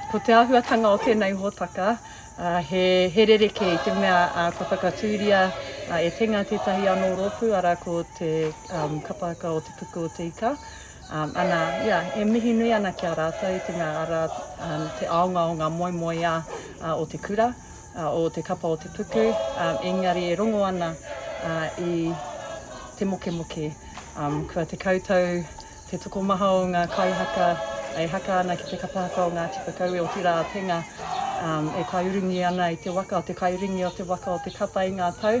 Ko te āhuatanga o tēnei hōtaka, he rerekē i te mea kua whakatūria e Tenga tētahi anō rōpū, arā, ko te kapa haka o Te Puku o Te Ika. Ana, ia, e mihi nui ana ki a rātou i te mea arā te aonga o ngā moemoeā o te kura, o te kapa o te puku, engari e rongo ana i te mokemoke. Kua tekau tau te tokomaha o ngā kaihaka e haka ana ki te kapa haka o Ngāti Whakaue, otirā a Tenga e kaiurungi ana i te waka, te kaiurungi o te waka o te kapa i ngā tau.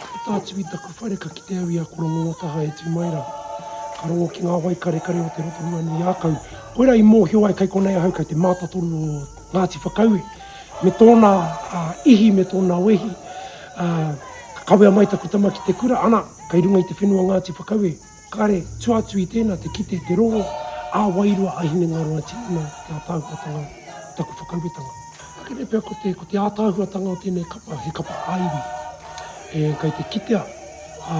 Ko Tātui taku whare ka kite au i a Korongongataha e tū mai rā. Ka rongo ki ngā wai karekare o te Rotorua nui ākau. Koirā i mōhio ai kei konei ahau kei te mātatoru o Ngāti Whakaue me tōna ihi me tōna wehi. Ka kawea mai taku tama ki te kura, ana, kei runga i te whenua Ngāti Whakaue. Kare, tua atu i tēnā te kite te rongo ā-wairua a Hinengaro Ati i ngā ātaahuatanga o taku whakauetanga. Akene pea ko te, ko te ātaahuatanga o tēnei kapa, he kapa ā-iwi. E, kei te kitea, ā,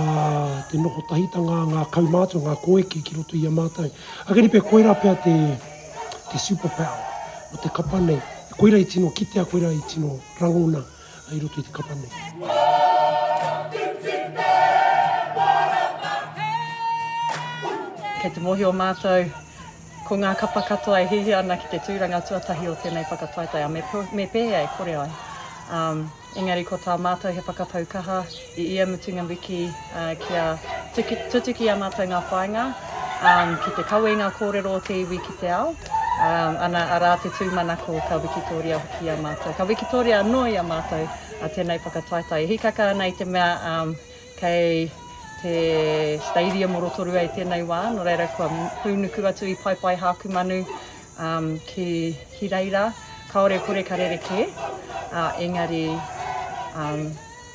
te noho tahitanga a ngā kaumātua, ngā koeke ki roto i a mātou. Akene pea koirā pea te, te superpower o te kapa nei. Koirā i tino kitea, koirā i tino rangona. i roto i te kapa nei. Kei te mōhio mātou ko ngā kapa katoa e hihi ana ki te tūranga tuatahi o tēnei whakataetae, ā, me pēhea e kore ai. Um, engari ko tā mātou he whakapau kaha, I ia mutunga wiki kia tutuki a mātou ngā whāinga ki te kawe i ngā kōrero o te iwi ki te ao, ana, arā te tūmanako ka wikitoria hoki i a mātou, ka wikitoria anō i a mātou tēnei whakataetae. E hīkaka ana i te mea kei te stadium o Rotorua i tēnei wā, nō reira kua hūnuku atu i Paepaehakumanu ki Hireira, kāore kore ka rerekē, engari,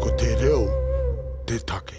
Ko te reo te take.